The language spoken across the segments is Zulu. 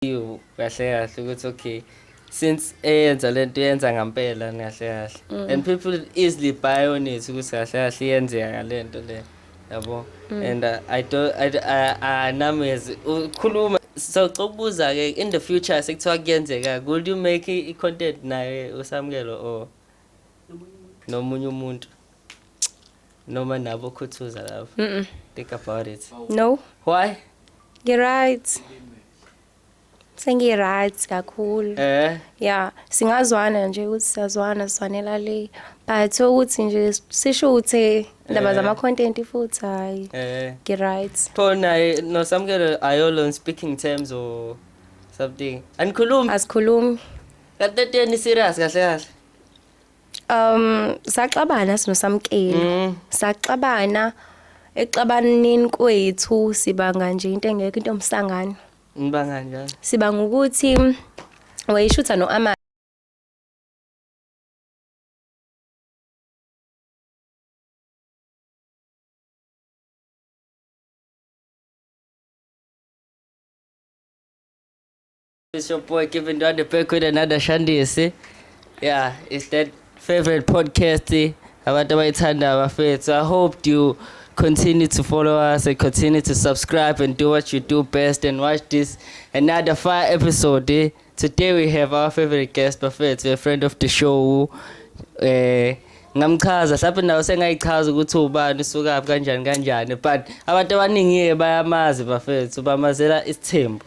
you kahle kahle ukuthi okay since eyenza lento yenza ngampela kahle kahle mm. and people easily buy on it ukuthi kahle kahle yenzeka ngalento le yabo mm. and uh, i don't i i nami ukhuluma so cokubuza ke in the future sekuthiwa kuyenzeka would you make i content naye usamkelo or nomunye umuntu noma nabo khuthuza love mm -mm. think about it no why you're right sengi-right kakhulu eh ya singazwana nje ukuthi siyazwana sizwanela le but ukuthi nje sisho ukuthi ndaba eh. zama-content futhi hhayi eh. ngi-right pho naye nosamukelo ayolo on speaking terms or something anikhulumi asikhulumi kanti entweni serious kahle kahle Um saxabana sino samkeli. Mm. Saxabana exabanini kwethu sibanga nje into engekho into omsangano. Ngibanga njalo. Sibanga ukuthi wayishutha no ama It's your boy Kevin Dwande back with another Shandisi. Yeah, it's that favorite podcast eh, abantu abayithanda abafethu. I hope you continue to follow us and continue to subscribe and do what you do best and watch this another fire episode. Eh? Today we have our favorite guest bafethu, a friend of the show. Eh ngamchaza mhlawumbe nawo sengayichaza ukuthi ubani usukaphi kanjani kanjani but abantu abaningi-ke bayamazi bafethu bamazela isithembu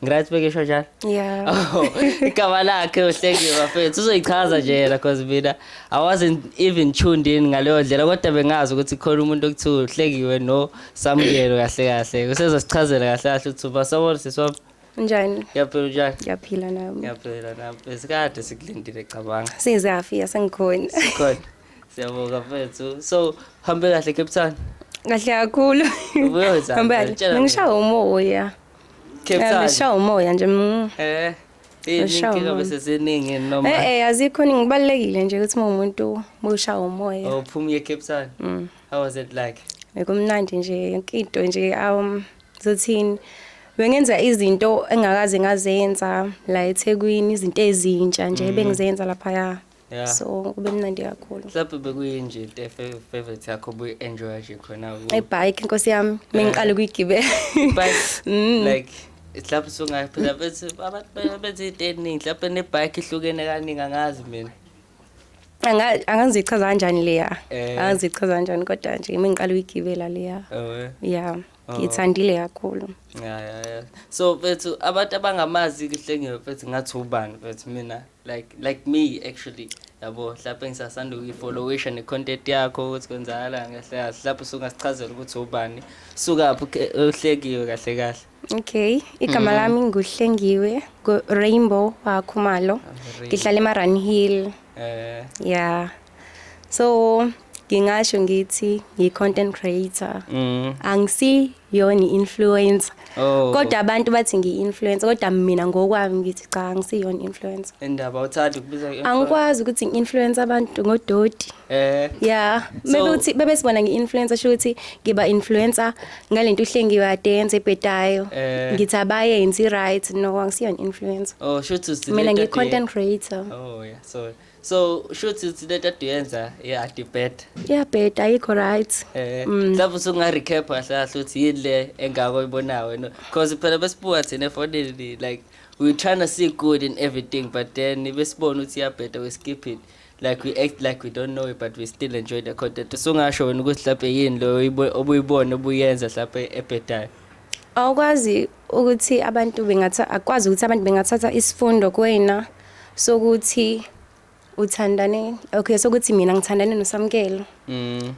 Ngirathi bekesho njalo. Yeah. Oh, igama lakhe uhleki bafethu uzoyichaza nje yena because mina I wasn't even tuned in ngaleyo ndlela kodwa bengazi ukuthi khona umuntu okuthiwa uhlekiwe no samukelo kahle kahle. Usezosichazela kahle kahle ukuthi uba sawona siswami. Njani? Ngiyaphila njani? Ngiyaphila nami. Ngiyaphila nami. Esikade sikulindile cabanga. Sizafika sengikhona. Sikhona. Siyabonga mfethu. So hambe kahle Cape Town. Kahle kakhulu. Ubuyoza. Hambe kahle. Ngishaya umoya. Beshawa umoya nje. Mm. Eh. Izinkinga bese ziningi noma. Eh eh azikho ningi kubalekile nje ukuthi umuntu mushawa umoya. Oh phuma ye Cape Town. Mm. How was it like? Bekumnandi nje yonke into nje um zothini. bengenza izinto engakaze ngazenza la eThekwini izinto ezintsha nje mm. bengizenza lapha ya Yeah. so kube mnandi kakhulu mhlawumbe bekuyinje into efe- favorite yakho buyi-enjoya nje khona ku- ibhayikhi nkosi yami mengiqale ukuyigibela But, Mm. like mhlawumbe sungaphila bethi abantu be- benza into eningi mhlawumbe nebhayikhi ihlukene kaningi angazi mina Anga- angazichaza kanjani leya Eh. angazichaza kanjani kodwa nje mengiqale ukuyigibela leya Oh, eh. ya Oh. ngiyithandile kakhulu yeah, yeah, yeah. so mfethu abantu abangamazi kuhlengiwe mfethu ngathi ubani mfethu mina like like me actually yabo mhlawumpe ngisasanda ukuyifollowisha ne-content yakho ukuthi kwenzakala kahle kahle mhlawumpe usungasichazela ukuthi ubani sukaphi uhlekiwe kahle kahle okay igama mm. lami nguhlengiwe rainbow wakhumalo ah, ngihlala emarun hill um eh. ya yeah. so ngingasho ngithi ngiyi-content creator mm. angisi yona i-influencer oh. kodwa abantu bathi ngiyi-influencer kodwa mina ngokwami ngithi cha angisiyona i-influencer endaba uthanda ukubiza angikwazi ukuthi ngi-influencer abantu ngodoti eh yeah maybe so, uthi bebe sibona ngi-influencer sho ukuthi ngiba influencer ngalento uhlengiwe adenze ebhedayo eh. ngithi abayenzi right no angisiyona influencer oh sho ukuthi mina ngiyi-content creator oh yeah so so shuthi ukuthi lento aduyenza iyadibheda iyabheda ayikho right eh mm. mhlawumbe usunga-recap kahle kahle ukuthi yini le engako oyibonayo wena because phela besibuka thina efonini like we trying to see good in everything but then besibona ukuthi iyabheda we skip it like we act like we don't know it but we still enjoy the content usungasho wena ukuthi mhlawumbe yini loyo obuyibona obuyenza mhlawumbe ebhedayo awukwazi ukuthi abantu bengatha akwazi ukuthi abantu bengathatha isifundo kuwena sokuthi uthandane okay sokuthi mina ngithandane noSamkelo mm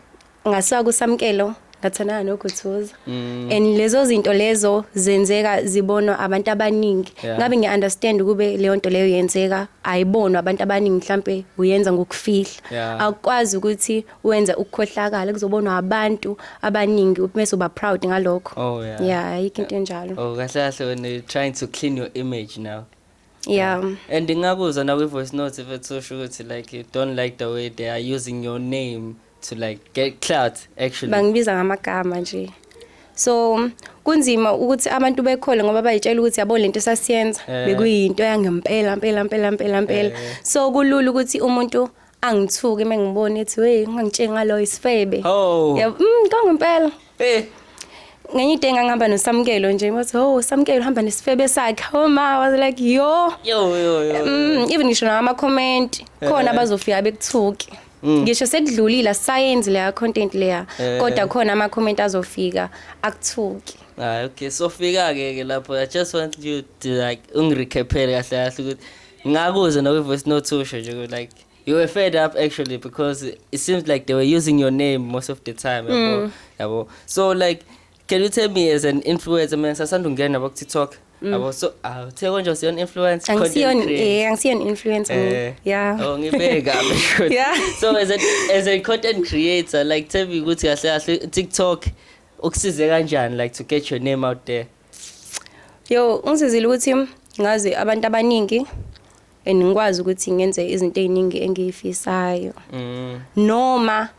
ngasuka kuSamkelo ngathandana noguthuza mm. and lezo zinto lezo zenzeka zibonwa abantu abaningi yeah. ngabe ngiunderstand ukube leyo nto leyo yenzeka ayibonwa abantu abaningi mhlambe uyenza ngokufihla yeah. akwazi ukuthi wenze ukukhohlakala kuzobonwa abantu abaningi mase uba proud ngalokho oh yeah yeah ayikho into enjalo oh kahle kahle when you trying to clean your image now yeah and ngingakuzwa na kwi voice note if it's so sure to like you don't like the way they are using your name to like get clout actually bangibiza ngamagama nje so kunzima ukuthi abantu bekhole ngoba bayitshela ukuthi yabo lento sasiyenza eh. bekuyinto yangempela impela impela impela impela eh. so kulula ukuthi umuntu angithuki mengibona ethi hey ungangitsheli ngalo isifebe oh yabo mm kangempela eh ngenye into engangihamba nosamkelo nje wathi oh samkelo uhamba nesifebe sakhe oh ma was like yo yo yo yo mm even ngisho nama comment eh. khona abazofika bekuthuki mm. ngisho sekudlulile science leya content leya eh. kodwa khona ama comment azofika akuthuki ah okay so fika ke ke lapho i just want you to like ungirecaphele kahle kahle ukuthi Ngakuze no voice note usho nje like you were fed up actually because it seems like they were using your name most of the time yabo mm. yabo so like can you tell me as an influencer mina sasanda ungena bo TikTok mm. yabo so awuthe ah, konje usiyona influencer content creator eh angisiyona influencer eh. yeah oh ngibeka yeah so as a as a content creator like tell me ukuthi kahle kahle TikTok ukusize kanjani like to get your name out there Yo, ngisizile ukuthi ngazi abantu abaningi and ngikwazi ukuthi ngenze izinto eziningi engiyifisayo. Mm. Noma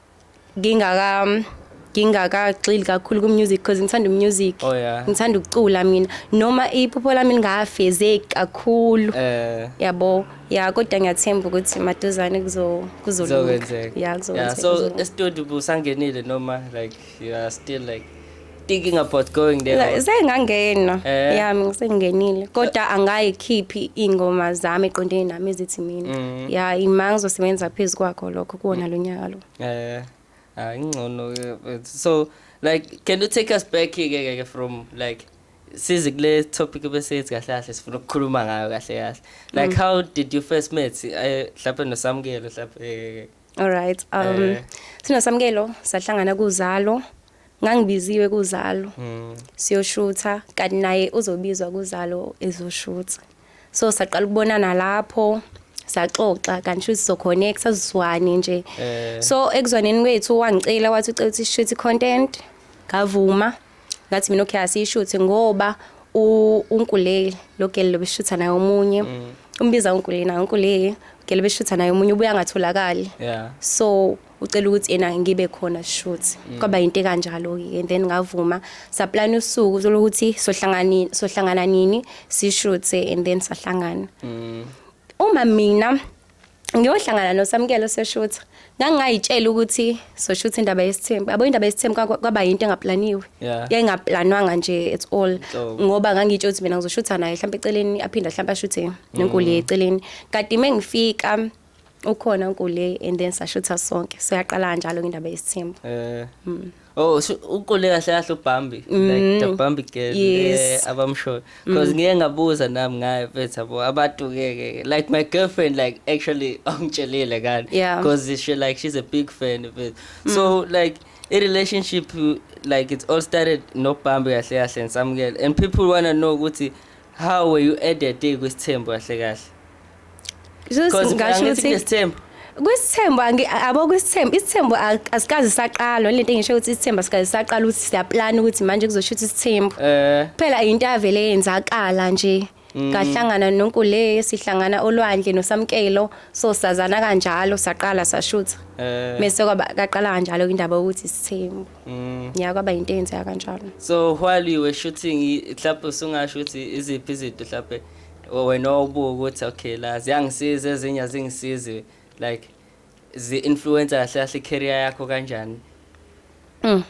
ngingaka ngingakagxili kakhulu ku music because ngithanda umusic. Oh, yeah. Ngithanda ukucula mina. Noma iphupho lami lingafezeki kakhulu. Eh. Yabo. Ya kodwa ngiyathemba ukuthi maduzane kuzo kuzolunga. Yeah, kuzokwenzeka. Yeah, so e studio busangenile noma like you are still like thinking about going there Like, sengangena Eh. yami ngisengenile kodwa angayikhiphi iy'ngoma zami eqondene nami ezithi mina Mm. ya ima ngizosebenza phezu kwakho lokho kuwona lo nyaka lo Eh, ah, ingcono ke, but so like can you take us back ke ke ke from like size kule topic besethi kahle kahle sifuna ukukhuluma ngayo kahle kahle like how did you first meet Eh, mhlawumbe nosamukelo mhlawumbe eh, All right. Um eh. sino samkelo sahlangana kuzalo. Ngangibiziwe kuzalo. Mm. Siyoshutha kanti naye uzobizwa kuzalo ezoshutha. So saqala ukubonana lapho. saxoxa kanti shuthi soconnect sazizwane nje eh. so ekuzwaneni kwethu wangicela wathi ucela ukuthi shuthi content ngavuma ngathi mina okay asiyishuthe ngoba unkuleli lo gele lobeshutha naye omunye mm. umbiza unkuleli naye unkuleli gele beshutha naye omunye ubuya ngatholakali yeah so ucela ukuthi yena ngibe khona shoot mm. kwaba yinto kanjalo ke and then ngavuma saplan usuku uthola ukuthi sohlangani sohlangana nini si shoot and then sahlangana mm. uma mina ngiyohlangana noSamkelo seshutha ngangingayitshela ukuthi soshutha indaba yesithembu yabo indaba yesithembu kwaba yinto engaplaniwe yayingaplanwanga nje at all ngoba ngangitsho ukuthi mina ngizoshutha naye mhlawumbe eceleni aphinda mhlawumbe ashuthe nenkuli mm. eceleni kade uma ngifika ukhona unkuli and then sashutha sonke so yaqala kanjalo indaba yesithembu eh mm. Oh, so uqule kahle kahle uBambi. Mm. Like the Bambi girl yes. eh, abamshoyo. Mm. Cause ngiye ngabuza nami ngaye mfethu yabo abantu ke like my girlfriend like actually ongitshelile kanti yeah. cause she like she's a big fan of it. Mm. So like a relationship like it all started no Bambi kahle kahle and some girl and people wanna know ukuthi how were you at that day kwesithembu kahle kahle. Because ngasho ukuthi ngesithembu kwisithembu abo kwisithembu isithembu asikazi saqalwa lento engisho ukuthi isithembu asikazi saqala ukuthi siyaplan ukuthi manje kuzosho ukuthi isithembu eh. phela into avele yenzakala nje mm. ngahlangana nonkule sihlangana olwandle nosamkelo so sazana kanjalo saqala sashutha eh. mese kwaba kaqala kanjalo indaba ukuthi isithembu mm. ya kwaba into eyenzeka kanjalo so while you were shooting mhlawumbe usungasho ukuthi iziphi izinto mhlawumbe wena wawubuka ukuthi okay la ziyangisiza ezinye azingisizi like zi-influencer kahle kahle i-career yakho kanjani mm.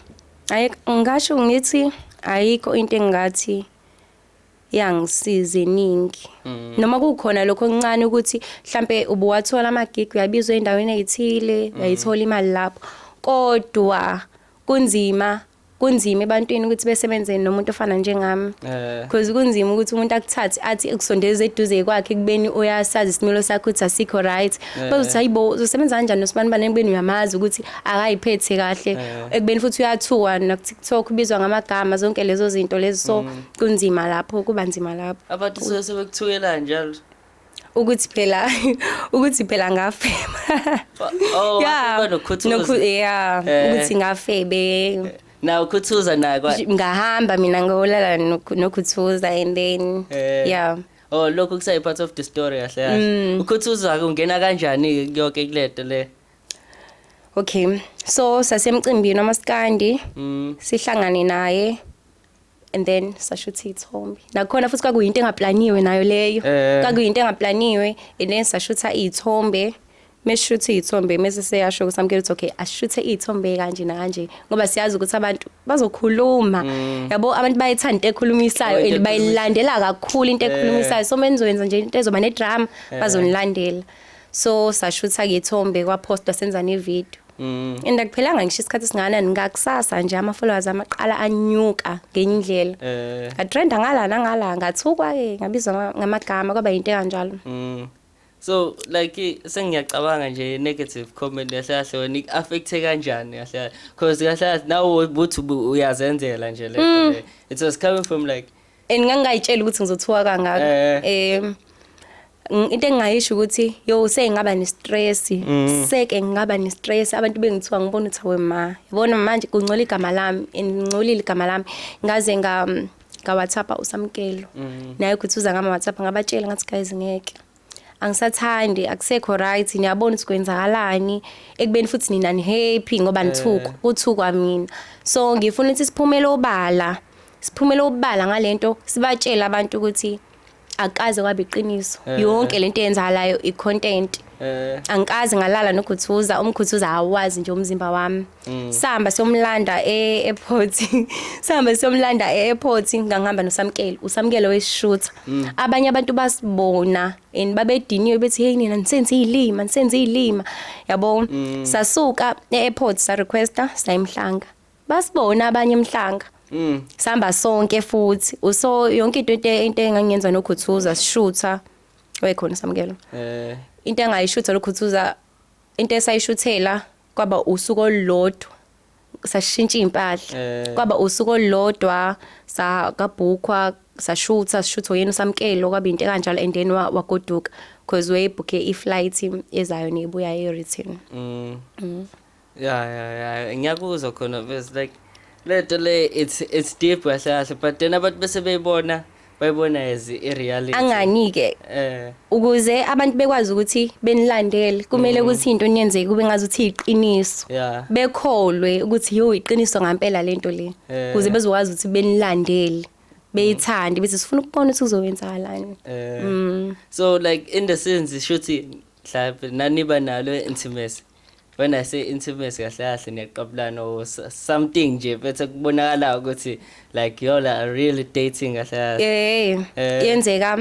ayi ngasho ngithi ayikho into engathi yangisiza eningi mm. noma kukhona lokho okuncane ukuthi mhlambe ubuwathola amagig uyabizwa endaweni ezithile mm. uyayithola imali lapho kodwa kunzima kunzima ebantwini ukuthi besebenze nomuntu ofana njengami eh. because kunzima ukuthi umuntu akuthathe athi ekusondeze eduze kwakhe kubeni uyasazi isimilo sakho ukuthi asikho right eh. bese uthi hayibo uzosebenza kanjani nosibanibaneni kubeni uyamazi ukuthi akayiphethe kahle eh. ekubeni futhi uyathuwa nakuTikTok ubizwa ngamagama zonke lezo zinto lezo so mm. kunzima lapho kuba nzima lapho abantu sebekuthukela njalo ukuthi phela ukuthi phela ngafeba oh yeah nokhu yeah eh. ukuthi ngafebe na ukhuthuza nakwa ngahamba mina ngolala nokhuthuza and then eh. yeah oh lokho kusayi part of the story kahle kahle mm. ukhuthuza kungena kanjani yonke kuleto le okay so sasemcimbini amaskandi mm. sihlangane naye and then sashutha iy'thombe nakhona futhi kwakuyinto engaplaniwe nayo leyo Eh. kwakuyinto engaplaniwe and then sashutha iy'thombe mesishutha iy'thombe mese seyasho ukuthi amkela ukuthi okay ashuthe iy'thombe kanje nakanje ngoba siyazi ukuthi abantu bazokhuluma yabo abantu bayithanda into ekhulumisayo Oh, into and bayilandela kakhulu into ekhulumisayo so menizoyenza nje into ezoba nedrama bazonilandela so sashutha-ke ithombe kwaphosta senza nevidiyo Mm. And akuphelanga ngisho isikhathi singana ngakusasa nje ama followers amaqala anyuka ngenye indlela. Eh. A trend ngala nangala ngathukwa ke ngabizwa ngamagama kwaba into kanjalo. Mm. So like sengiyacabanga nje negative comment kahle kahle wena ik affect kanjani kahle because kahle nawe ubuthi uyazenzela nje le mm. it was coming from like and ngangingayitshela ukuthi ngizothuka kangaka eh. um into engingayisho ukuthi yo sengingaba ne-stress mm. seke ngingaba ne-stress abantu bengithiwa ngibona ukuthi awe ma yabona manje kungcola igama lami and ngingcolile igama lami ngaze nga ngawatshapha usamkelo mm. naye ukuthi uza ngama-whatsapp ngabatshela ngathi guys ngeke angisathandi akusekho right niyabona ukuthi kwenzakalani ekubeni futhi nina nihappy ngoba nithukwa eh. kuthukwa mina so ngifuna ukuthi siphumele obala siphumele obala ngalento sibatshele abantu ukuthi akaze kwabe iqiniso eh. yonke lento eyenzakalayo icontent eh. angikaze ngalala nokhuthuza umkhuthuza awazi nje umzimba wami Mm. sihamba siyomlanda e-airport sihamba siyomlanda e-airport ngangihamba nosamkele usamkele wesishutha mm. abanye abantu basibona and babediniwe bethi hey nina nisenze izilima nisenze izilima yabo mm. sasuka e-airport sa requesta sayimhlanga basibona abanye emhlanga Mm. Sihamba sonke futhi. Uso yonke into into into engangenza nokhuthuza sishutha. Wekhona samkelo. Eh. Into engayishutha lokhuthuza into esayishuthela kwaba usuku olulodwa sashintsha impahla Eh. kwaba usuku olulodwa sakabhukwa sashutha sishutha yena usamkelo kwaba into kanjalo and then wa- wagoduka because wayebhukhe iflight ezayo nebuya e-return Mm. ya ya ya ngiyakuzwa khona bes like lento le it's it's deep kahle kahle but then abantu bese beyibona bayibona as i-reality angani-ke eh ukuze abantu bekwazi ukuthi benilandele kumele mm. ukuthi into niyenzeke kube ngazi ukuthi iqiniso yeah bekholwe ukuthi yo iqiniso ngempela lento le eh. ukuze bezokwazi ukuthi benilandele beyithande bese sifuna ukubona ukuthi kuzowenzakalani eh. mm. so like in the sense shuthi mhlawumbe naniba nalo intimacy when i say intimacy kahle kahle niyaqabulana or something nje bethe kubonakala ukuthi like yola are really dating kahle kahle eh, eh. yenzeka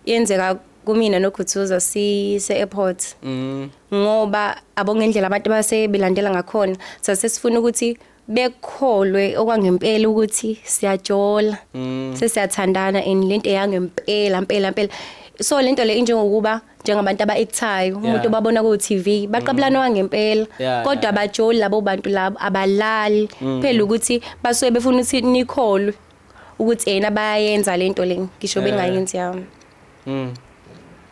yenzeka kumina nokhuthuza sise airport mm. ngoba abongendlela abantu base belandela ngakhona sase sifuna ukuthi bekholwe okwangempela ukuthi siyajola mm. sesiyathandana and lento eyangempela impela impela so lento le injengokuba njengabantu abaekthayo umuntu obabona ku TV baqabulana mm. wangempela kodwa abajoli labo bantu labo abalali mm. phela ukuthi basuke befuna ukuthi nikholwe ukuthi yena bayayenza lento le ngisho bengayenzi yami Mm.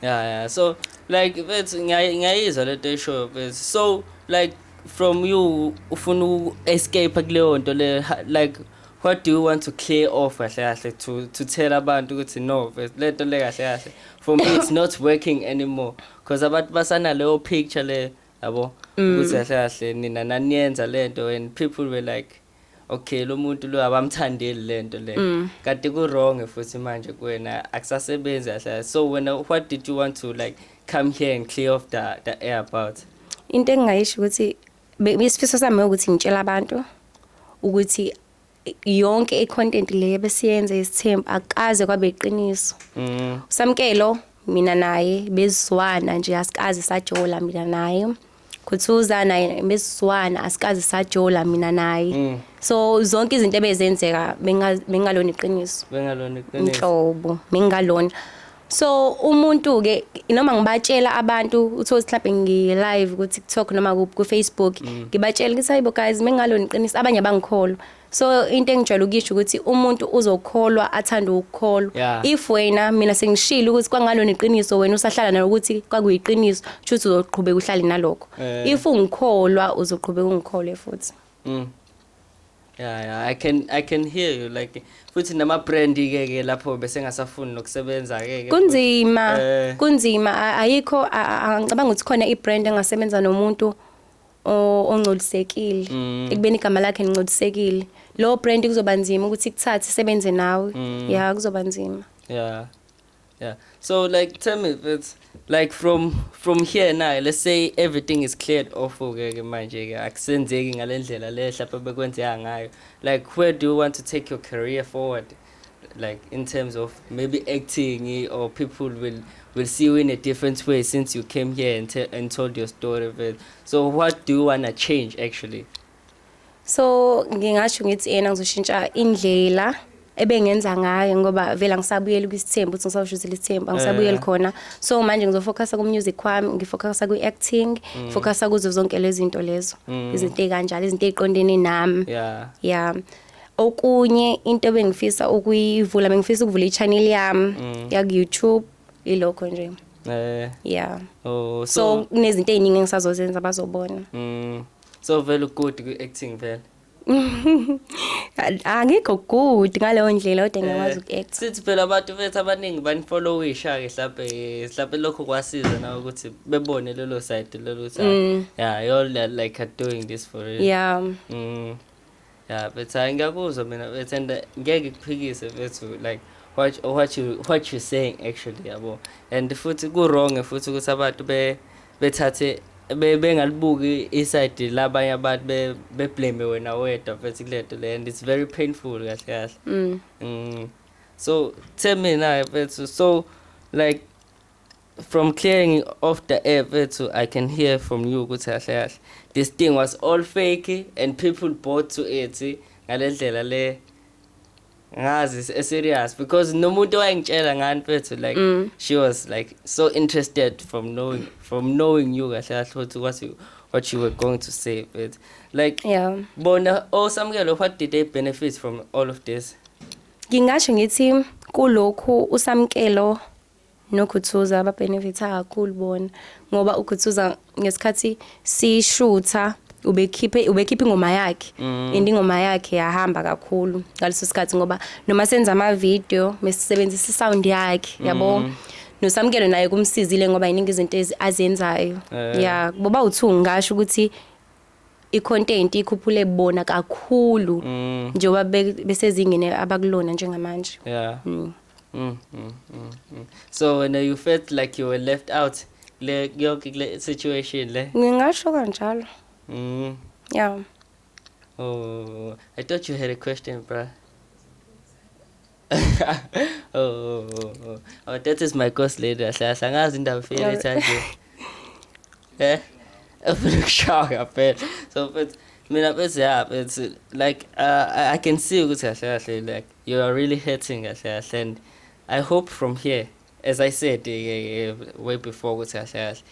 Yeah, yeah. So like bethi ngiyayi- ngiyayizwa lento eshoyo bethi. So like from you ufuna u escape kuleyo nto le ha- like what do you want to clear off kahle kahle to to tell abantu ukuthi no bethi, lento le kahle kahle for me it's not working anymore because abantu basana leyo picture le yabo ukuthi kahle kahle nina naniyenza lento and people were like okay lo muntu lo abamthandeli lento le mm. kanti ku wrong futhi manje kuwena akusasebenzi kahle so wena what did you want to like come here and clear off the the air about into engingayisho ukuthi isifiso sami ukuthi ngitshela abantu ukuthi yonke icontent le besiyenze isithembu akaze kwabe iqiniso mm. usamkelo mina naye bezizwana nje asikaze sajola mina naye khuthuza naye besizwana asikaze sajola mina naye mm. so zonke izinto ebezenzeka bengalona iqiniso bengalona iqiniso inhlobo bengalona so umuntu ke noma ngibatshela abantu uthola mhlawumbe ngi live ku TikTok noma ku Facebook mm. ngibatshela ukuthi hayibo guys mengalona iqiniso abanye abangikholwa so into engijwayele ukuyisho ukuthi umuntu uzokholwa athande ukukholwa yeah. if wena mina sengishilo ukuthi kwangalona iqiniso wena usahlala nalo ukuthi kwakuyiqiniso kushuthi uzoqhubeka uhlale nalokho eh. if ungikholwa uzoqhubeka ungikholwe futhi mm. yeah, yeah. i can i can hear you like futhi nama brand ke ke lapho bese ngasafuni nokusebenza ke kunzima eh. kunzima ayikho angicabanga ukuthi khona i brand engasebenza nomuntu o- ongcolisekile Mm. ekubeni igama lakhe lingcolisekile lowo brand kuzoba nzima ukuthi ikuthathe isebenze nawe Mm. ya kuzoba nzima Yeah. Yeah. So like tell me it's like from from here now let's say everything is cleared off okay ke manje ke akusenzeki ngalendlela le hlapha bekwenzeka ngayo like where do you want to take your career forward like in terms of maybe acting or people will will see you in a different way since you came here and, te- and told your story but so what do you want to change actually so ngingasho ngithi yena ngizoshintsha indlela ebengenza ngayo ngoba vele angisabuyeli kwisithembu ukuthi ngisawusho ukuthi lithembu angisabuyeli khona so manje ngizofocusa ku-music kwami ngifocusa kwi-acting ngifocusa kuzo zonke lezinto lezo izinto ey'kanjalo izinto ey'qondene nami yeah ya okunye into bengifisa ukuyivula bengifisa ukuvula i-channel yami mm. yaku-youtube ilokho nje eh yeah oh so, so kunezinto eziningi engisazozenza bazobona mm so vele good ku acting vele angikho good ngaleyo ndlela kodwa ngiyakwazi eh, uku-act sithi phela abantu bethu abaningi banifollowisha-ke mhlawumbe mhlawumbe lokho kwasiza nawe ukuthi bebone lelo side lelo ukuthi mm. yeah you're like doing this for real yeah mm. ya bethi hayi ngiyakuzwa mina bethi and eh, ngeke kuphikise bethu like what, what, you, what you saying actually yabo and futhi ku-wrong futhi ukuthi abantu bethathe bengalibuki isayidi labanye abantu beblame wena wedwa mfethu kule nto le and it's very painful kahle kahle mm. mm. so the mina mfethu so like From clearing off the air fethu I can hear from you ukuthi kahle kahle this thing was all fake and people bought to it ngalendlela le ngazi eh, serious because nomuntu owayengitshela ngani fethu like mm. she was like so interested from knowing from knowing you kahle kahle ukuthi what you what you were going to say but like yeah bona osamukelo oh, what did they benefit from all of this ngingasho ngithi kulokhu usamkelo noGuthuza babhenefitha kakhulu bona ngoba uGuthuza ngesikhathi sishutha ubekhiphe ubekhipha ingoma yakhe mm. and ingoma yakhe yahamba kakhulu ngaleso sikhathi ngoba noma senza ama video mesisebenzisa sound yakhe yabo mm. nosamkelo naye kumsizile ngoba yiningi izinto azenzayo eh. yeah boba uthu ngasho ukuthi icontent ikhuphule bona kakhulu mm. njengoba besezingene abakulona njengamanje yeah mm. Mm, mm, mm, mm. so when you felt like you were left out le yonke le situation le ngingasho kanjalo mm yeah oh i thought you had a question bro oh, oh, oh, oh. oh, that is my course lady ahlahla angazi indaba file ethanje eh ufuna ukushawa ngaphela so futhi mina bese ya it's like uh, i can see ukuthi kahle kahle like you are really hurting kahle kahle and i hope from here as i said uh, way before ukuthi kahle kahle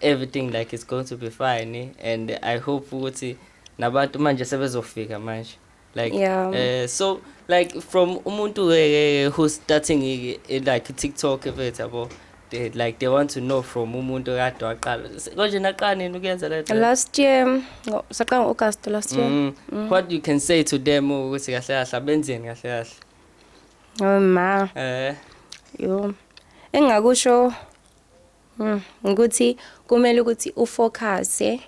everything like is going to be fine eh? and i hope ukuthi nabantu manje sebezofika manje like yeah. uh, so like from umuntu uh, who's starting uh, like tiktok efethu yabo they, like they want to know from umuntu kade waqala konje naqala nini ukuyenza le last year saqala ngo-august last year mm. Mm. what you can say to them ukuthi kahle kahle abenzeni kahle kahle oh ma eh yo engakusho mm, ukuthi kumele ukuthi ufocuse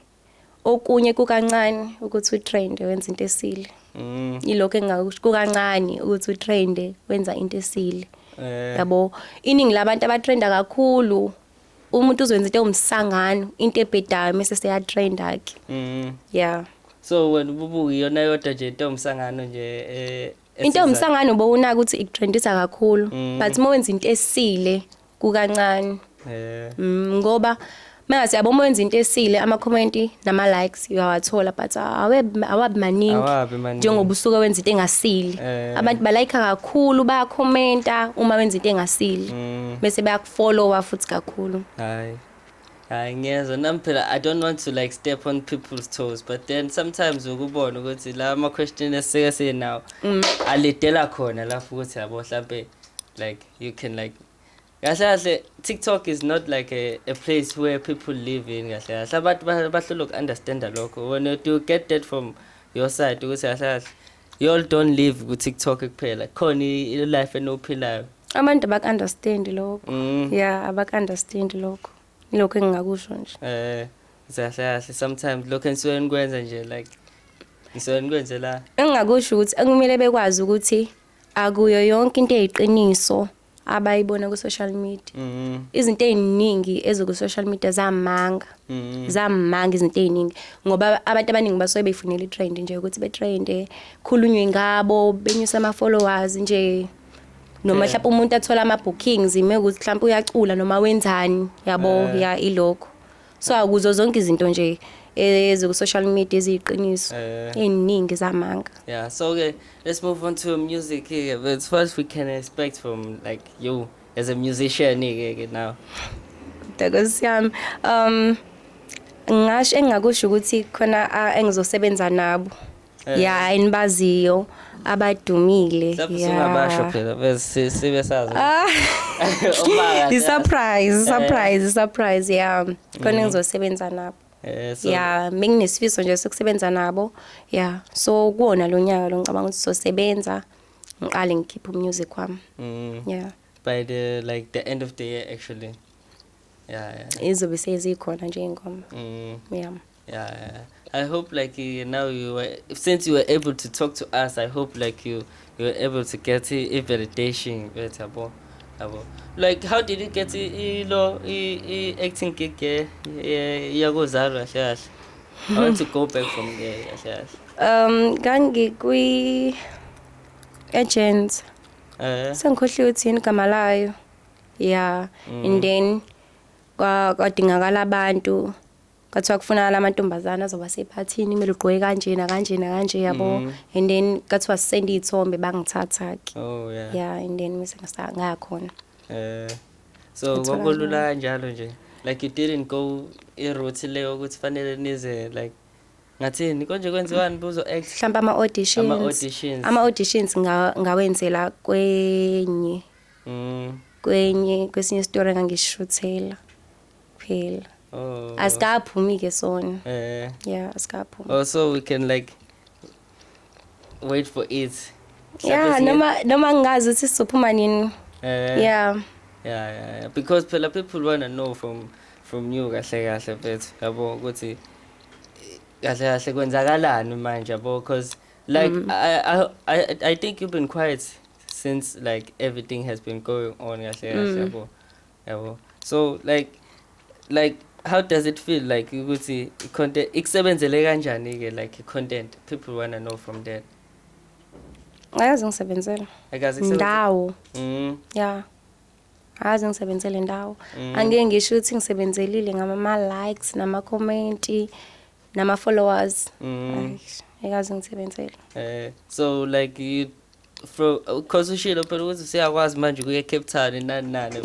okunye kukancane ukuthi utrende wenza into esile mm. ilokho engingakusho kukancane ukuthi utrende wenza into esile eh. yabo iningi labantu abatrenda kakhulu umuntu uzwenza into ewumsangano into ebhedayo mese seyatrenda ke mm. yeah so wena ububuka iyona yodwa nje into ewumsangano nje eh into ewumsangano bowunaka ukuthi ikutrendisa kakhulu mm. but uma wenza into esile kukancane eh mm, ngoba mase yabo uma wenza into esile ama comment nama likes uyawathola but awe awabi maningi Awabi maningi. njengoba usuke wenza into engasile Eh. abantu ba like kakhulu ba commenta uma wenza into engasile mm, bese bayakufollowa futhi kakhulu hayi hayi ngiyezwa nami phela i don't want to like step on people's toes but then sometimes ukubona ukuthi la ama question esike sinawo alidela khona lapho ukuthi yabo mhlambe like you can like kahle kahle tiktok is not like a, a place where people live in kahle kahle abantu ba- bahlulwa uku-understanda lokho when you, you get that from your side ukuthi kahle kahle you all don't live ku-tiktok kuphela khona i- i-life enophilayo abantu abaku-understand lokho mm. ya abaku-understand lokho ilokho engingakusho nje eh kahle kahle sometimes lokho enisuke nikwenza nje like nisuke nikwenze la engingakusho ukuthi ekumele bekwazi ukuthi akuyo yonke into eyiqiniso abayibona ku social media mm-hmm. izinto eziningi eziku social media zamanga mm-hmm. zamanga izinto eziningi ngoba abantu abaningi basuke beyifunela itrend nje ukuthi betrende khulunywe ngabo benyusa ama followers nje noma mhlawumbe umuntu athola ama bookings ime ukuthi mhlawumbe uyacula noma wenzani yabo eh. ya ilokho so akuzo zonke izinto nje eziku-social media eziyiqiniso Eh. ey'ningi zamanga Yeah, so okay, let's move on to music here. But it's what we can expect from like you as a musician here, here now. ntokosi yami um ngasho engingakusho ukuthi khona a- engizosebenza nabo Eh. ya ayinibaziyo abadumile Lapho ya. singabasho phela bese sibe sazi. Ah. Ubaka. i-surprise i-surprise i-surprise ya khona engizosebenza nabo Eh so ya benginesifiso nje sokusebenza nabo ya so kuwona lo nyaka lo ngicabanga ukuthi sizosebenza ngiqale ngikhiphe umusic wami mm, ya by the like the end of the year actually. Yeah, yeah. izobe sezikhona nje iy'ngoma Mm. ya Yeah, I hope like you, now you were, since you were able to talk to us, I hope like you you were able to get a validation better, boy. Like how did you get i lo i acting gig yeah yakuzalwa kahle. I want to go back from there kahle. Um kangi kwi agent. Eh. Sengikhohliwe ukuthi yini igama layo. Yeah, and mm. then kwadingakala abantu kwathiwa kufunakala amantombazane azoba sephathini kumele ugqoke kanjena kanjena kanje yabo mm. and then kwathiwa sisenda iy'thombe bangithatha-ke oh, yeah. yeah and then mise ngayakhona um eh, so kwakolula kanjalo nje like you didn't go i-route leyo ukuthi fanele nize like ngathini konje kwenziwani buzo act mhlawumbe ama auditions ama auditions ama auditions ngawenzela kwenye mm. kwenye kwesinye story ngangishuthela kuphela oh. asikaphumi ke sona eh yeah asikaphumi oh so we can like wait for it yeah noma noma ngingazi ukuthi sizophuma nini eh yeah yeah yeah because phela people wanna know from from you kahle kahle mfethu yabo ukuthi kahle kahle kwenzakalani manje yabo because like mm. I, I i i think you've been quiet since like everything has been going on kahle kahle mm. yabo mm. yabo so like like how does it feel like ukuthi content ikusebenzele kanjani ke like content people wanna know from that ayazi ngisebenzela akazi ndawo mm yeah azi ngisebenzele ndawo mm. angeke ngisho ukuthi ngisebenzelile ngama ma likes nama comment nama followers mm. ekazi ngisebenzele eh so like you Bro, cause ushilo phela ukuthi siyakwazi manje kuye Cape Town nani nani.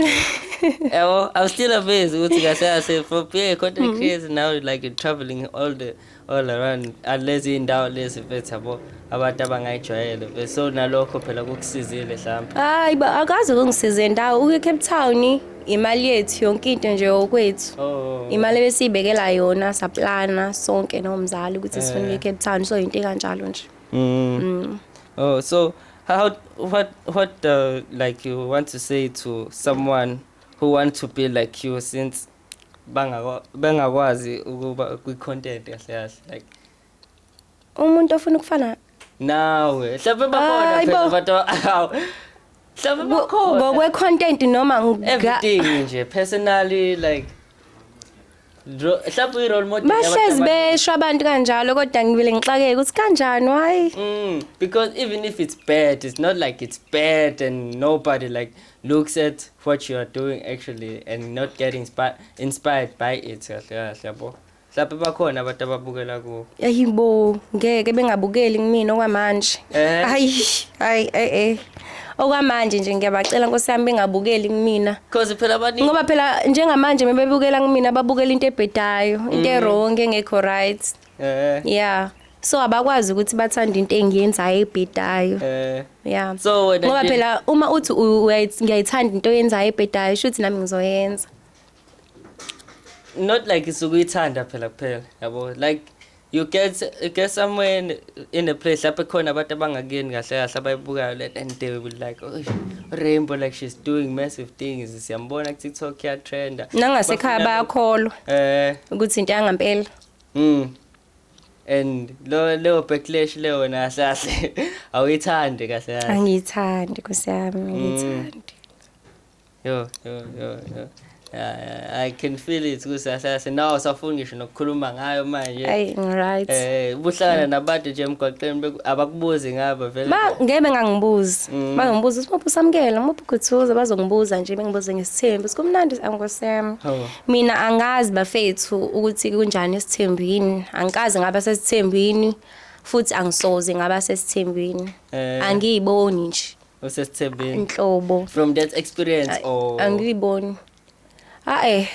Yabo, I'm still amazed ukuthi kahle kahle for being a content mm-hmm. creator now like you're traveling all the all around unless indawo lezi mfethu yabo abantu abangayijwayele mfethu so nalokho phela kukusizile mhlawumbe. Hayi ba akaze kungisize ndawo uke Cape Town imali yethu yonke into nje okwethu oh. imali besiyibekela yona saplana sonke nomzali ukuthi sifuna eh. Cape Town so into kanjalo nje Mm. Mm. Oh, so how what what uh, like you want to say to someone who want to be like you since bangakwa- bengakwazi ukuba kwi content kahle kahle like umuntu ofuna ukufana nawe mhlawumbe bakhona Hayi phela bo. abantu awu mhlawumbe bakhona ngokwe-content noma nga- everything nje personally like Dro- Mhlawumbe uyi-role model yabantu bahlezi abaningi. besho abantu kanjalo kodwa ngibile ngixakeke ukuthi kanjani wayi Mm, because even if it's bad, it's not like it's bad and nobody like looks at what you are doing actually and not getting inspi- inspired by it. kahle kahle, yabo. Mhlawumbe bakhona abantu ababukela kuwo. ayibo ngeke bengabukeli kumina okwamanje Eh. ayi ayi eh eh okwamanje nje ngiyabacela nkosi yami bengabukeli kumina because phela abaningi ngoba phela njengamanje mebebukela kumina babukela into ebhedayo into mm. ewrong engekho right eh yeah so abakwazi ukuthi bathanda into engiyenzayo ebhedayo eh yeah so wena ngoba phela uma uthi ngiyayithanda into oyenzayo ebhedayo shuthi nami ngizoyenza not like isukuyithanda phela kuphela yabo like you get you get somewhere in, in a place lapho khona abantu abangakuyeni kahle kahle abayibukayo le and they will like oh, rainbow like she's doing massive things siyambona ku TikTok ya trender nangasekhaya bayakholwa eh ukuthi into yangampela mm and lo leyo backlash leyo na kahle awuyithandi kahle kahle angiyithandi kusiyami mm. ngiyithandi Yo, yo, yo, yo. Yeah, yeah, I can feel it kusasase nawo safuna ngisho nokukhuluma ngayo manje ayi ngiright eh ubuhlangana nabantu nje emgwaqeni beku- abakubuzi ngabo vele ba ngeke bengangibuzi Mm. bangibuza ukuthi muphi usamukela muphi ukhuthuza bazongibuza nje bengibuze ngesithembu ukuthi kumnandi angosem Hawu. mina angazi bafethu ukuthi kunjani isithembu yini angikaze ngaba sesithembini futhi angisoze ngaba sesithembini Eh. angiyiboni nje osesithembeni inhlobo from that experience or angiliboni hayi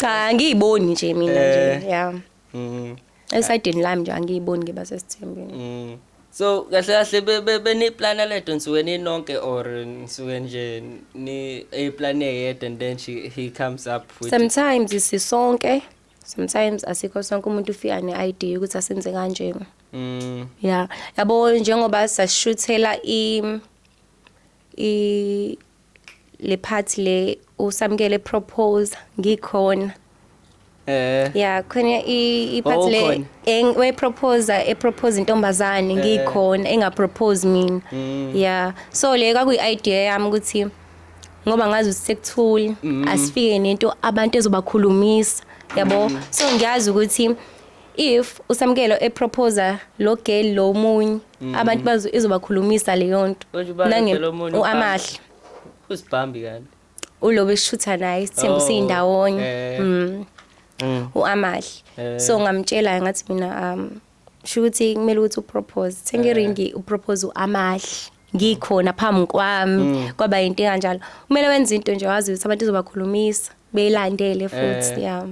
cha angiyiboni nje mina nje eh. yeah mhm esidini lami nje angiyiboni ngiba sesithembeni mhm so kahle kahle beni plan ledo nsuke ninonke or nsuke nje ni a plan eyedwa and then she he comes up with sometimes sisonke sometimes asikho sonke umuntu ufika ne idea ukuthi asenze kanjena Mm. Yeah. Yabo njengoba sashuthela i i le part le usamkele propose ngikhona. Eh. Yeah, khona i i part Oh, le khona. eng- we proposer e propose intombazane ngikhona enga propose mina. Mm. Yeah. So le kwakuyi idea yami ukuthi ngoba ngazi ukuthi sekuthule Mm. asifike nento abantu ezobakhulumisa. Yabo. So ngiyazi ukuthi if usamkelo eproposa lo girl lo munye mm. abantu bazo izobakhulumisa leyo nto uamahle usibhambi kanti ulobe eshutha naye isithembu oh, siyindawonye eh. mm. mm. uamahle eh. so ngamtshela ngathi mina um shukuthi kumele ukuthi upropose thenga iringi upropose uamahle ngikhona phambi kwami mm. kwaba yinto kanjalo kumele wenze into nje wazi ukuthi abantu izobakhulumisa beyilandele futhi eh. yeah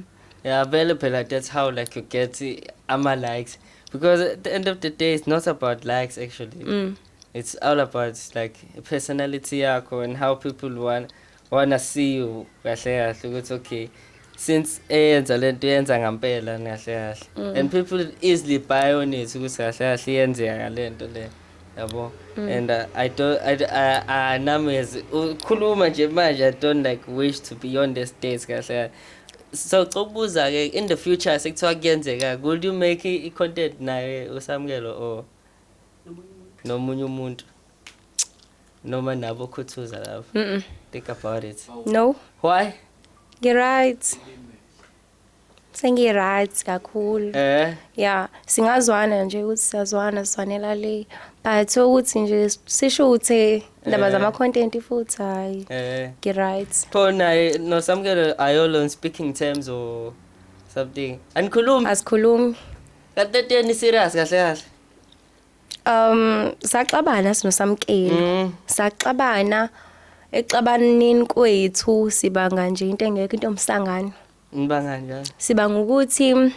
yeah vele phela that's how like you get ama likes because at the end of the day it's not about likes actually mm. it's all about like personality yakho and how people want wanna see you kahle kahle ukuthi okay since eyenza lento yenza ngampela kahle kahle mm. and people easily buy on it ukuthi kahle kahle iyenzeka ngalento le yabo mm. and uh, i don't i uh, uh, numbers ukhuluma nje manje i don't like wish to be on the stage kahle kahle so cokubuza ke in the future sekuthiwa kuyenzeka could you make i content naye usamkelo or nomunye umuntu noma nabo khuthuza love mm -mm. think about it no why you're right sengi-right kakhulu eh ya singazwana nje ukuthi siyazwana sizwanela le but ukuthi nje sisho ukuthi ndaba eh. zama-content futhi hhayi eh. ngi-right pho naye nosamukelo ayolo on speaking terms or something anikhulumi asikhulumi kanti entweni serious kahle kahle Um saxabana sino samkeli. Mm. Saxabana exabanini kwethu sibanga nje into engekho into omsangano. Ngibanga njalo. Sibanga ukuthi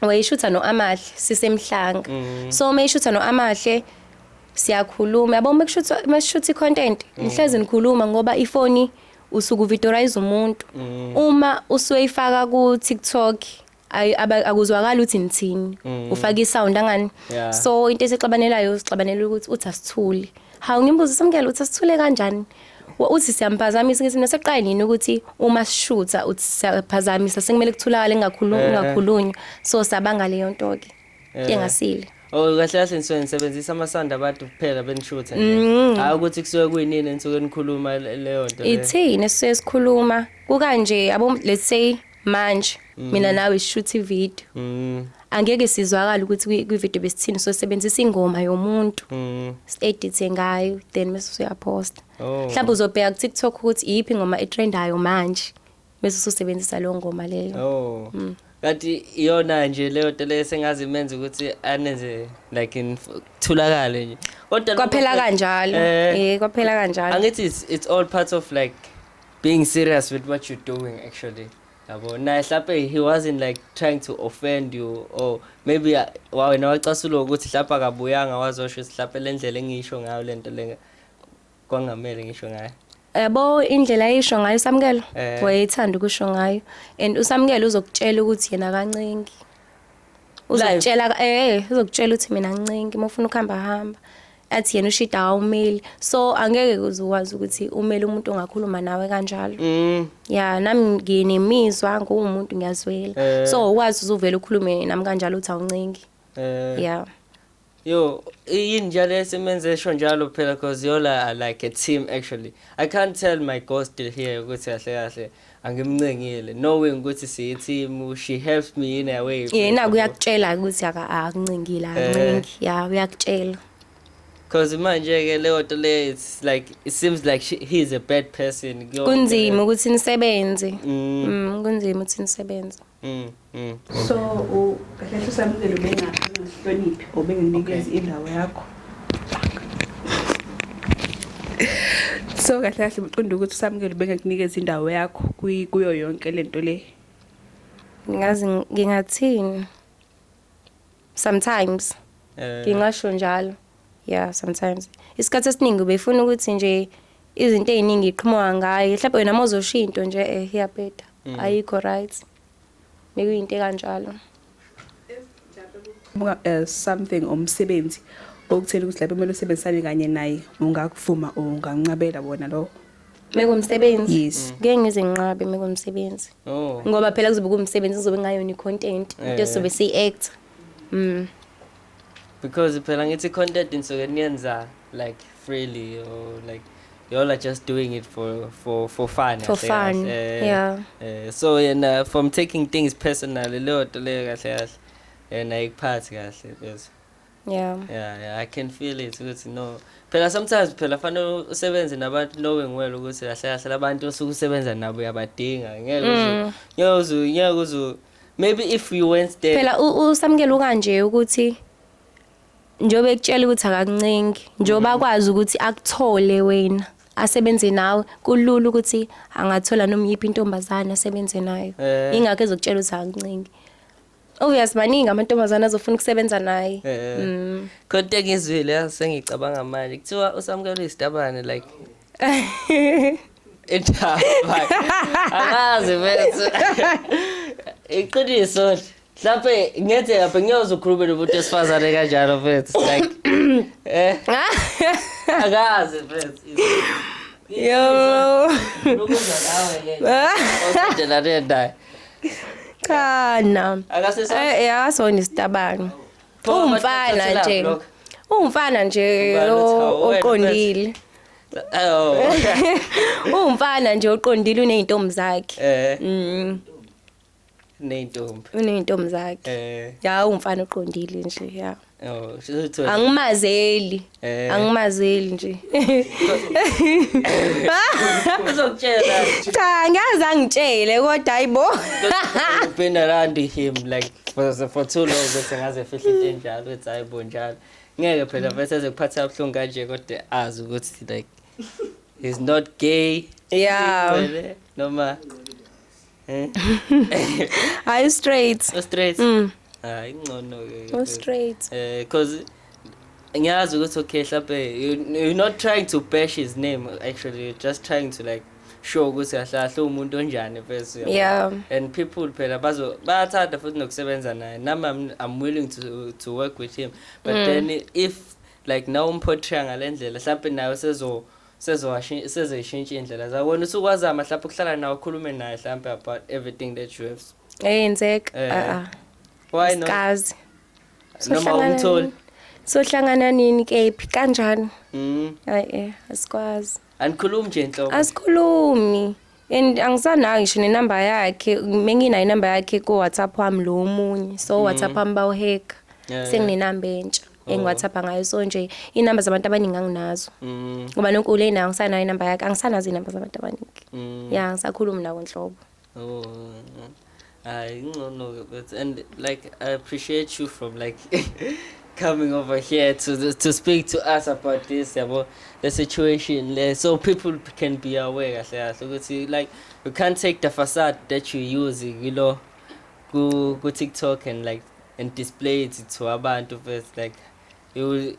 wayishutha noAmahle sisemhlanga. Mm. So mayishutha noAmahle siyakhuluma yabo uma kushutha uma sishutha icontent mm. ngihlezi ngikhuluma ngoba ifoni usuku videorize umuntu mm. uma usuyifaka ku TikTok ay aba- akuzwakali ukuthi nithini ufaka isound angani Mm. Yeah. so into esixabanelayo sixabanela ukuthi uthi asithule hawu ngimbuza samkela uthi asithule kanjani Wa- uthi siyampazamisa ngithi naseqayi nini ukuthi uma sishutha uthi siyaphazamisa sekumele kuthulakale kungakhulu- Eh. kungakhulunywa so sabanga leyo nto-ke Eh. engasile Oh kahle kahle nisuke nisebenzisa amasanda abantu kuphela benishutha nje. Hayi ukuthi kusuke kuyinini enisuke nikhuluma le- leyo nto. leyo. ithini esisuke sikhuluma kukanje yabo let's say manje mm. mina nawe sishuthi video mm. angeke sizwakala ukuthi kwi video besithini so sebenzisa ingoma yomuntu mm. edithe ngayo then mase usuyaposta oh. mhlawumbe uzobheka ku TikTok ukuthi iyiphi ingoma etrendayo manje mase ususebenzisa leyo ngoma leyo oh mm. kanti iyona nje leyo nto leyo sengazi imenza ukuthi anenze like in thulakale nje kodwa kwaphela kanjalo eh, eh kwaphela kanjalo angithi it's, it's all part of like being serious with what you're doing actually yabo naye hlape he wasn't like trying to offend you or maybe uh, wa wena wacasulwa ukuthi hlapa akabuyanga wazosho ukuthi hlape le ndlela engisho ngayo le nto le kwangamele ngisho ngayo yabo indlela ayisho ngayo usamukelo Eh. wayethanda ukusho ngayo and usamukelo uzokutshela ukuthi yena kancingi uzokutshela eh uzokutshela ukuthi mina ncingi uma ufuna ukuhamba hamba athi yena ushida awumeli so angeke kuze ukwazi ukuthi umele umuntu ongakhuluma nawe kanjalo mm. ya nami nginemizwa nguwumuntu ngiyazwela eh. so ukwazi uzuvela ukhulume nami kanjalo uthi awuncengi eh. ya yo yini njalo esimenze esho njalo phela cause yola like a team actually i can't tell my ghost still here ukuthi kahle kahle angimncengile knowing ukuthi siyithimu she helps me in a way yena kuyakutshela ukuthi akakuncengile akuncengi eh. ya uyakutshela because manje ke leyo nto le it's like it seems like she, he is a bad person kunzima ukuthi nisebenze mm. mm kunzima ukuthi nisebenze Mm, mm. So kahle kahle usamukele ubengahloniphi obenginikeza indawo yakho. So kahle kahle uqonda ukuthi usamukele ubengakunikeza indawo yakho kuyo yonke lento le. Ngazi ngingathini? sometimes eh. ngingasho njalo yeah sometimes isikhathi esiningi ubefuna ukuthi nje izinto eziningi iqhamuka ngaye mhlawumbe wena mozosho into nje eh iyabheda mm. ayikho right nekuyinto kanjalo buka eh, something umsebenzi okuthela ukuthi lapho kumele usebenzisane kanye naye ungakuvuma ungancabela wona lowo Mekumsebenzi. Yes. Ngeke ngizinqabe mekumsebenzi. Oh. Ngoba phela kuzobe kumsebenzi kuzobe ngayona icontent into Eh. sobe siyi act. Mm. Because phela ngithi content nisuke niyenza like freely or like you all are just doing it for for for fun. For kahle fun, kahle. Eh, yeah. eh, so yena from taking things personal leyo nto leyo kahle kahle. Yena ikuphathi kahle bese. yeah yeah yeah i can feel it ukuthi no phela sometimes phela fanele usebenze nabantu knowing well ukuthi kahle kahle labantu osuke usebenza nabo uyabadinga ngeke uzu mm. ngeke uzu ngeke uzu maybe if you went there phela usamkele ukanje ukuthi njobe ekutshela ukuthi akakuncengi njoba mm. akwazi ukuthi akuthole wena asebenze nawe kulula ukuthi angathola noma yiphi intombazane asebenze nayo eh. ingakho ezokutshela ukuthi akakuncengi Obvious maningi amantombazana azofuna ukusebenza naye. Eh. Mm. Kodwa ngizwile sengicabanga manje kuthiwa usamukela isitabane like Ethaba. Akazi mfethu. Iqiniso nje. Mhlawumbe ngenzeka phe ngiyoze ukhulume nomuntu wesifazane kanjalo mfethu like eh akazi mfethu. Yo. Lokuzwa nawe yena. Osedelane naye. cha na Akasesa- eh eh, akasona isitabane Pho, umfana bathatha nje ilaphu lokho. umfana nje Ubani uthi, o- "Hawu, wena, oqondile Oh. umfana nje oqondile unezintombi zakhe Eh, mm neyintombi. unezintombi zakhe Eh. ya umfana oqondile nje ya Oh, sizothola. angimazeli Eh. angimazeli nje Uzokutshela. cha ngiyazi angitshele kodwa hayibo I've been around him like for, for too long bese ngaze fihla into enjalo bethi hayi bo njalo ngeke phela bese ezekuphatha ubuhlungu kanje kodwa azi ukuthi like he's not gay yeah Ngcwele, noma Eh? Are you straight? Oh, straight. Mm. Ah, ingcono ke. Oh, straight. Eh, cause ngiyazi ukuthi okay mhlawumbe you're not trying to bash his name actually you're just trying to like sure ukuthi ahlahle umuntu onjani first yeah and people phela bazo bayathanda futhi nokusebenza naye nami I'm, I'm willing to to work with him but mm. then if like now umportray ngalendlela mhlawumbe nayo sezo sezowashi sezoyishintsha indlela za wena usukwazama mhlawumbe ukuhlala nawe ukhulume naye mhlawumbe about everything that you have eyenzeka Eh. a a why not kazi noma umtholi sohlangana nini kephi kanjani mm hayi eh asikwazi anikhulumi nje inhloko asikhulumi and angisanayo ngisho nenamba yakhe menginayo inamba yakhe ku WhatsApp wami lo omunye so mm -hmm. WhatsApp wami bawuhack yeah, senginenamba yeah. entsha oh. engiwathapha ngayo so nje inamba zabantu abaningi anginazo mm. ngoba nonke ule nayo angisanayo inamba yakhe angisanazo inamba zabantu abaningi mm. ya ngisakhuluma nawo nhlobo oh. Hayi uh, incono but and like I appreciate you from like coming over here to to speak to us about this yabo the situation le so people can be aware kahle kahle ukuthi like you can't take the facade that you use you know ku ku TikTok and like and display it to abantu first like you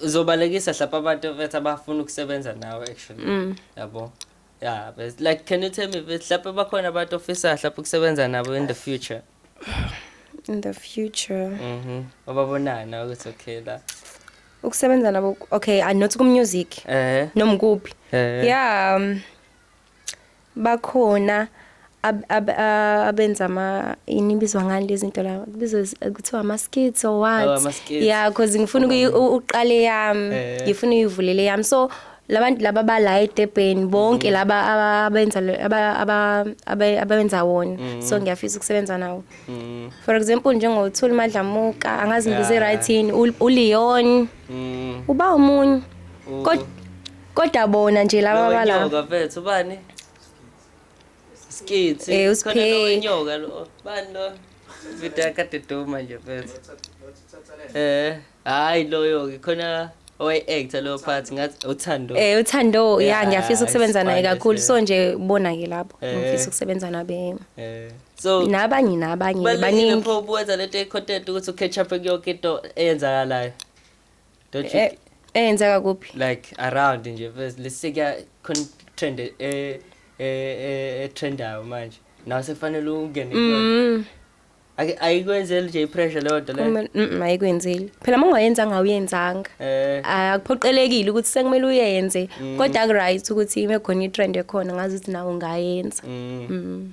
uzobalekisa hlapa abantu bethu abafuna ukusebenza nawe actually mm. yabo Yeah, but like can you tell me but mhlawumbe bakhona abantu ofisa mhlawumbe ukusebenza nabo in the future? in the future Mhm. Obabonana ukuthi okay la. ukusebenza nabo okay i not ku music Eh. noma kuphi Eh. yeah um, bakhona abenza ama inibizwa ngani lezi zinto la kubizwa kuthiwa ama skits or what oh, yeah because ngifuna uqale yami eh. ngifuna uyivulele yami so labantu laba bala eDurban bonke mm. laba abenza aba abenza wona mm. so ngiyafisa ukusebenza nawo mm. for example njengo Thuli Madlamuka angazi ngize right yini u Leon uba omunye kodwa bona nje laba bala kodwa mfethu ubani Skitsi. Eh, uSphe. Khona lo wenyoka lo. Bani lo? Vida kade duma nje mfethu. Eh, hayi loyo ke khona owaye actor lo part ngathi uthando. Eh uthando ya Yeah, ngiyafisa ukusebenza naye isibande kakhulu nje. so nje bona ke lapho Eh. ngifisa ukusebenza nabe Eh. So nabanye nabanye balini baningi pho ubuwenza lento econtent ukuthi ucatch up kuyoke into eyenzakalayo. Don't you Eh, eyenzeka kuphi like around nje first lesekuya khona trend e e e- e trendayo manje nawe sekufanele ungene kuyona. Mm, Ake- ayikwenzeli nje ipressure leyo nto leyo kumele- mm, mm, ayikwenzeli phela uma ungayenzanga awuyenzanga eh akuphoqelekile ukuthi sekumele uyenze kodwa ku-right ukuthi ibe khona i-trend ekhona ngazi ukuthi nawe ungayenza mm. Mm.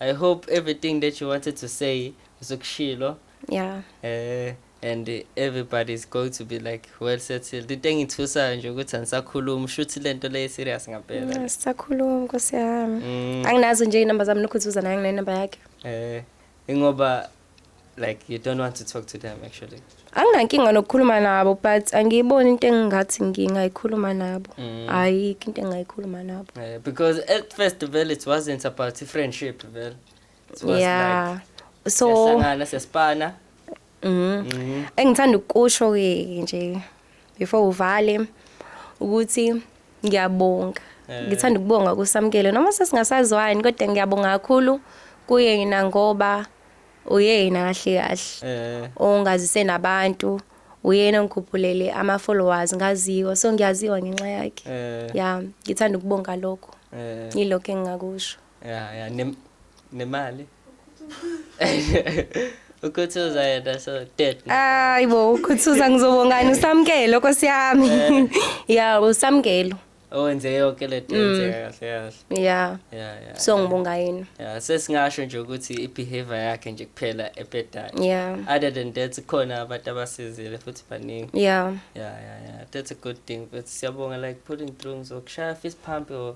I hope everything that you wanted to say usukushilo. Yeah. Eh and everybody's going to be like well settled into engithusayo nje ukuthi angisakhulumi shuthi lento le serious ngampela mm, sisakhuluma nkosi yami mm. anginazo nje inamba zami nokhuzuza naye nginenamba yakhe eh ingoba like you don't want to talk to them actually anginankinga nokukhuluma nabo but angiyiboni into engingathi ngingayikhuluma nabo mm. ayikho into engingayikhuluma nabo yeah, because at first vele it wasn't about friendship vele it was yeah. like so siyasangana siyasipana mhm mm. engithanda ukusho ke nje before uvale ukuthi ngiyabonga eh. ngithanda ukubonga kusamkele noma sesingasazwani kodwa ngiyabonga kakhulu kuyena ngoba uyena kahle kahle eh. ongazise nabantu uyena ongikhuphulele ama-followers ngaziwa so ngiyaziwa ngenxa yakhe eh. ya ngithanda ukubonga lokho yilokho engingakusho ya ya nem- nemali ukhuthuza yena so dead Hayi bo ukhuthuza ngizobongani usamkelo Nkosi yami. Ya usamkelo. owenze yonke le nto yenzeka kahle kahle Ya. ya ya So ngibonga yena. ya sesingasho nje ukuthi i-behavior yakhe nje kuphela ebhedayo Ya. other than that khona abantu abasizile futhi baningi Ya. yeah yeah yeah that's a good thing but siyabonga like pulling through ngizokushaya fist pump or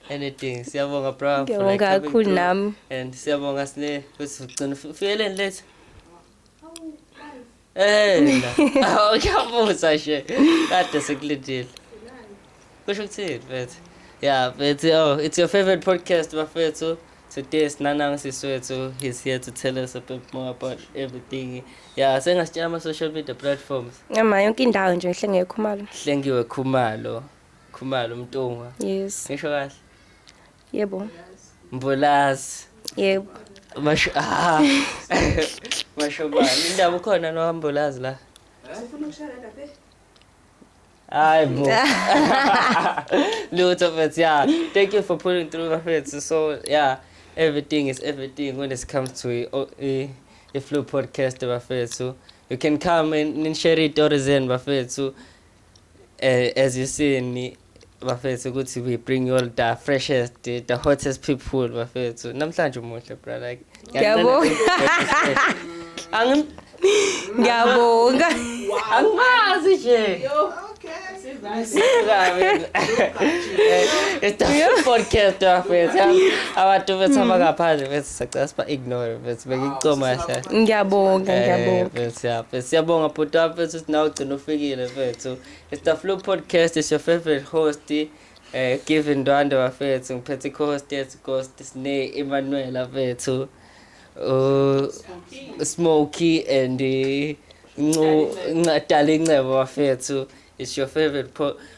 anything siyabonga bro for Ngiyabonga like coming kakhulu through. nami. and siyabonga sine ukuthi ugcina uf- ufikeleni lethu Eh, na. Awu, uyabuza nje kade sekulindile kusho ukuthini mfethu ya mfethu oh it's your favorite podcast bafethu today sinanami siswethu he's here to tell us a bit more about everything ya sengasitshela ama-social media platforms Ngama yonke indawo nje ngihlengekho imali. hlengiwe khumalo Khumalo umntungwa. Yes. Ngisho kahle. Yebo. Mbulazi. Yebo. Masho ah. Masho bani indaba ukhona no Mbulazi la. Ufuna ukushara lapha. Eh? Hayi bo. Lutho mfethu yeah. Thank you for pulling through mfethu. So yeah, everything is everything when it comes to a, oh, a, eh, a Flu podcast mfethu. You can come and, and share it or zen mfethu. eh, as you see me bafethu ukuthi we bring you all the freshest the, the hottest people bafethu namhlanje umuhle bra like Ngiyabonga. Angim- ngiyabonga angimazi nje It's the podcast bafethu abantu bethu abangaphandle bethu sacela siba ignore bethu bengicoma hle ngiyabonga ngiyabonga Eh, bethu, yeah, bethu, siyabonga bhuti wami bethu host nawe ugcina ufikile mfethu it's the flu podcast is your favorite host eh given ndwande bafethu ngiphethe i-host yethu ghost sine Emmanuel bafethu uh smoky and eh, ncu nqadala incebo bafethu it's your favorite po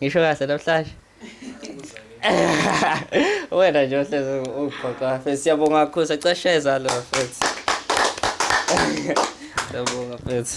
Ngisho kahle namhlanje. Wena nje uhlezi ugqoqa mfethu siyabonga kakhulu sacasheza lo mfethu. Siyabonga mfethu.